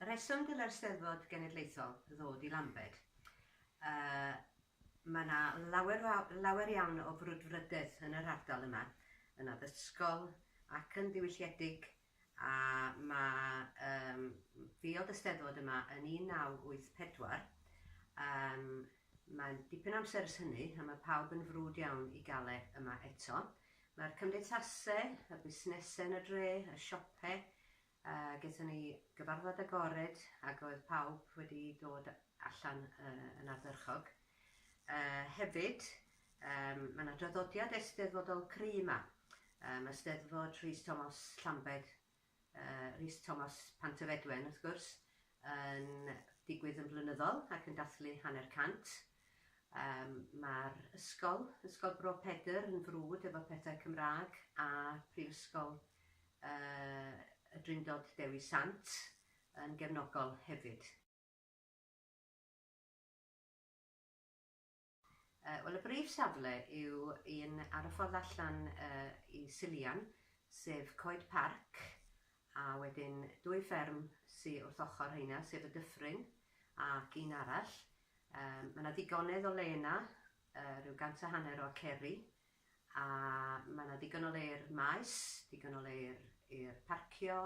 Rheswm gyda'r Steddfod Genedlaethol ddod i Lambed, yy mae 'na lawer faw- lawer iawn o frwdfrydedd yn yr ardal yma, yn addysgol ac yn ddiwylliedig a mae yym ddiod y Steddfod yma yn 1984, yym mae'n dipyn o amser ers hynny a mae pawb yn frwd iawn i gael e yma eto. Mae'r cymdeithasau, y busnesau yn y dre, y siopau, a gaethon ni gyfarfod agored ac oedd pawb wedi dod allan yn ardderchog. Hefyd, mae yna draddodiad eisteddfodol cry' 'ma. Mae 'Steddfod Rhys Tomos Llambed Rhys Thomas Pantyfedwen, wrth gwrs, yn digwydd yn flynyddol ac yn dathlu hanner cant. Yym, mae'r ysgol, Ysgol Bro Pedr, yn frwd efo pethau Cymraeg a Phrifysgol yy y Drindod Dewi Sant yn gefnogol hefyd. Wel, y brif safle yw un ar y ffordd allan i Sillian, sef Coed Parc, a wedyn dwy fferm sy wrth ochr rheina, sef y Dyffryn ac un arall. Mae yna ddigonedd o le yna, rhyw gant a hanner o aceri, a mae yna ddigon o le i'r maes, digon o le i'r i'r parcio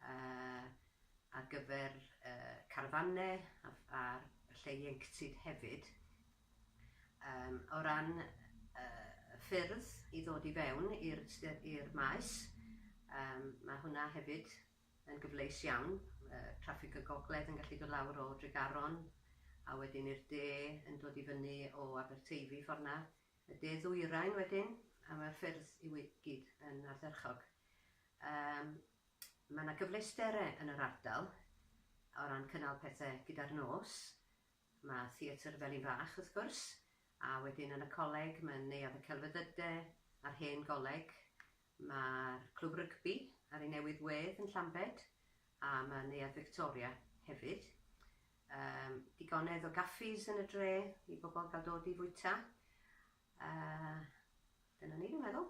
yy ar gyfer yy carfanne a a lle ieuenctid hefyd. Yym o ran yy y ffyrdd i ddod i fewn i'r st- i'r maes yym ma' hwnna hefyd yn gyfleus iawn, yy traffig y gogledd yn gallu dod lawr o Dregaron a wedyn i'r de yn dod i fyny o Aberteifi ffor 'na. Y de ddwyrain wedyn, a mae'r ffyrdd i gyd yn ardderchog. Yym, mae yna gyfleustere yn yr ardal o ran cynnal pethe gyda'r nos. Mae Theatr Felin Fach, wrth gwrs, a wedyn yn y coleg mae Neuadd y Celfyddyde a'r Hen Goleg, Mae'r clwb rygbi ar ei newydd wedd yn Llambed a mae Neuadd Victoria hefyd. Yym, digonedd o gaffis yn y dre i bobl gael dod i fwyta. Yy, dyna ni, dwi'n meddwl.